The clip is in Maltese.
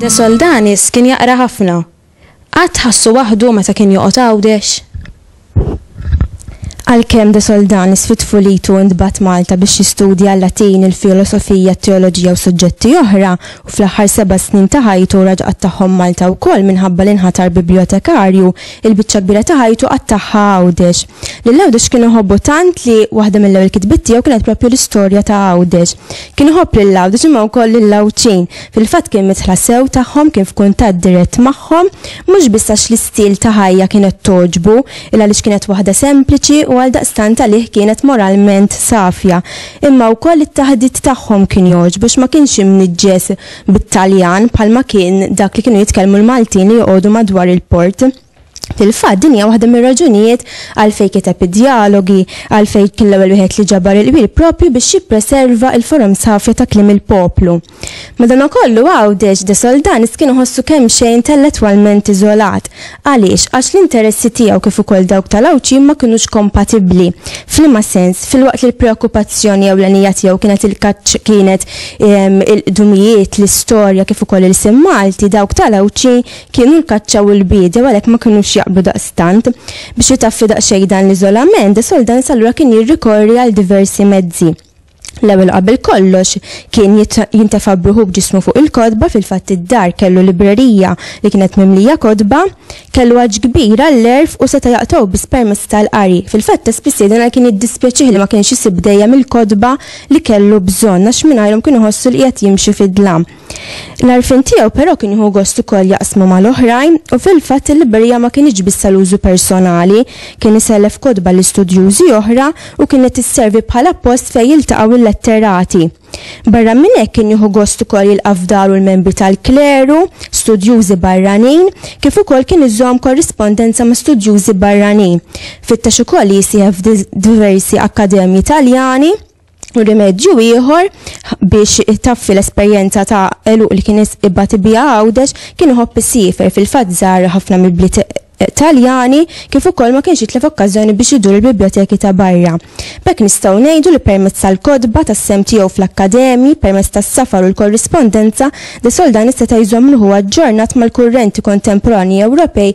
De Soldanis kien jaqra ħafna. Qatt ħassu waħdu meta kien joqgħod Għawdex? Għalkemm de Soldan isfid f'ulitu u ntbagħat Malta biex jistudja l-Latin, il-filosofija, t-teoloġija u suġġetti oħra, u fl-aħħar seba' snin ta' ħajtu raġa' qattagħhom Malta wkoll minħabba li nħatar bibljotekarju, il-biċċa kbira ta' ħajtu qattagħha Għawdex. Lil Għawdex kien iħobbu tant li waħda mill-ewwel kitbiet tiegħu kienet proprju l-istorja ta' Għawdex. Kien iħobb lil Għawdex imma wkoll lill-Għawdxin. Fil-fatt kien midħla sew tagħhom, kien f'kuntatt dirett magħhom, mhux biss għax l-istil ta' ħajja kienet togħġbu, illa għaliex kienet waħda sempliċi u għaldaqstant għalih kienet moralment safja, imma wkoll it-taħdit tagħhom kien jogħġbu għax ma kienx imniġġes bit-Taljan bħalma kien dak li kienu jitkellmu l-Maltin li joqogħdu madwar il-port. Fil-fatt, din hija waħda mir-raġunijiet għalfejn kiteb id-Djalogi, għalfejn kien l-ewwel wieħed li ġabar il-qbil proprju biex jippreserva il-forums ħafja ta' kliem il-poplu. Madanakollu Għawdex, De Soldanis kien iħossu kemxejn intellettwalment iżolat. Għaliex? Għax l-interessi tiegħu kif ukoll dawk tal-Għawdxin ma kinux kompatibbli. F'liema sens? Filwaqt li l-preokkupazzjoni ewlenija tiegħu kienet il-kaċċ kienet il-qdumijiet, l-istorja kif ukoll ilsien Malti, dawk tal-Għawdxin Kienu l-kaċċa u l-biedja u għalhekk ma kinux jaqblu daqstant. Biex jitaffi daqsxejn dan l-iżolament, De Soldanis allura kien jirrikorri għal diversi mezzi. L-ewwel u qabel kollox, kien jintefa' b'ruħu b'ġismu fuq il-kotba, fil-fatt id-dar kellu librerija li kienet mimlija kotba, kellu għatx kbir għall-għerf u seta' jaqtgħu biss permezz tal-qari. Fil-fatt ta' spiss jgħidilna kien jiddispjaċih li ma kienx isib dejjem il-kotba li kellu bżonn għax mingħajrhom kien iħossu li qiegħed jimxi fid-dlam. L-għarfien tiegħu però kien jieħu gost ukoll jaqsmu mal-oħrajn u fil-fatt il-librerija ma kinitx biss għal użu personali, kien isellef kotba l-istudjużi oħra u kienet isservi bħala post fejn jiltaqgħu l-letterati. Barra minn hekk kien jieħu gost ukoll jilqa' f'daru l-membri tal-kleru, studjużi barranin, kif ukoll kien iżomm korrispondenza ma' studjużi barranin. Fittex ukoll li jisieħeb f'diversi akkademji Taljani. rimedju ieħor biex taffi l-esperjenza ta' eluq li kien ibati biha għawdex kien iħobb isifer fil-fatt żar ħafna mill-bliet Taljani kif ukoll ma kienx jitlef okkażjoni biex idur il-biblioteki ta' barra. B'hekk nistgħu ngħidu li permezz tal-kotba, tas-sehem tiegħu fl-akkademji, permezz tas-safar u l-korrispondenza, de Soldani seta' jżomm ruħu aġġornat mal-kurrenti kontemporanji Ewropej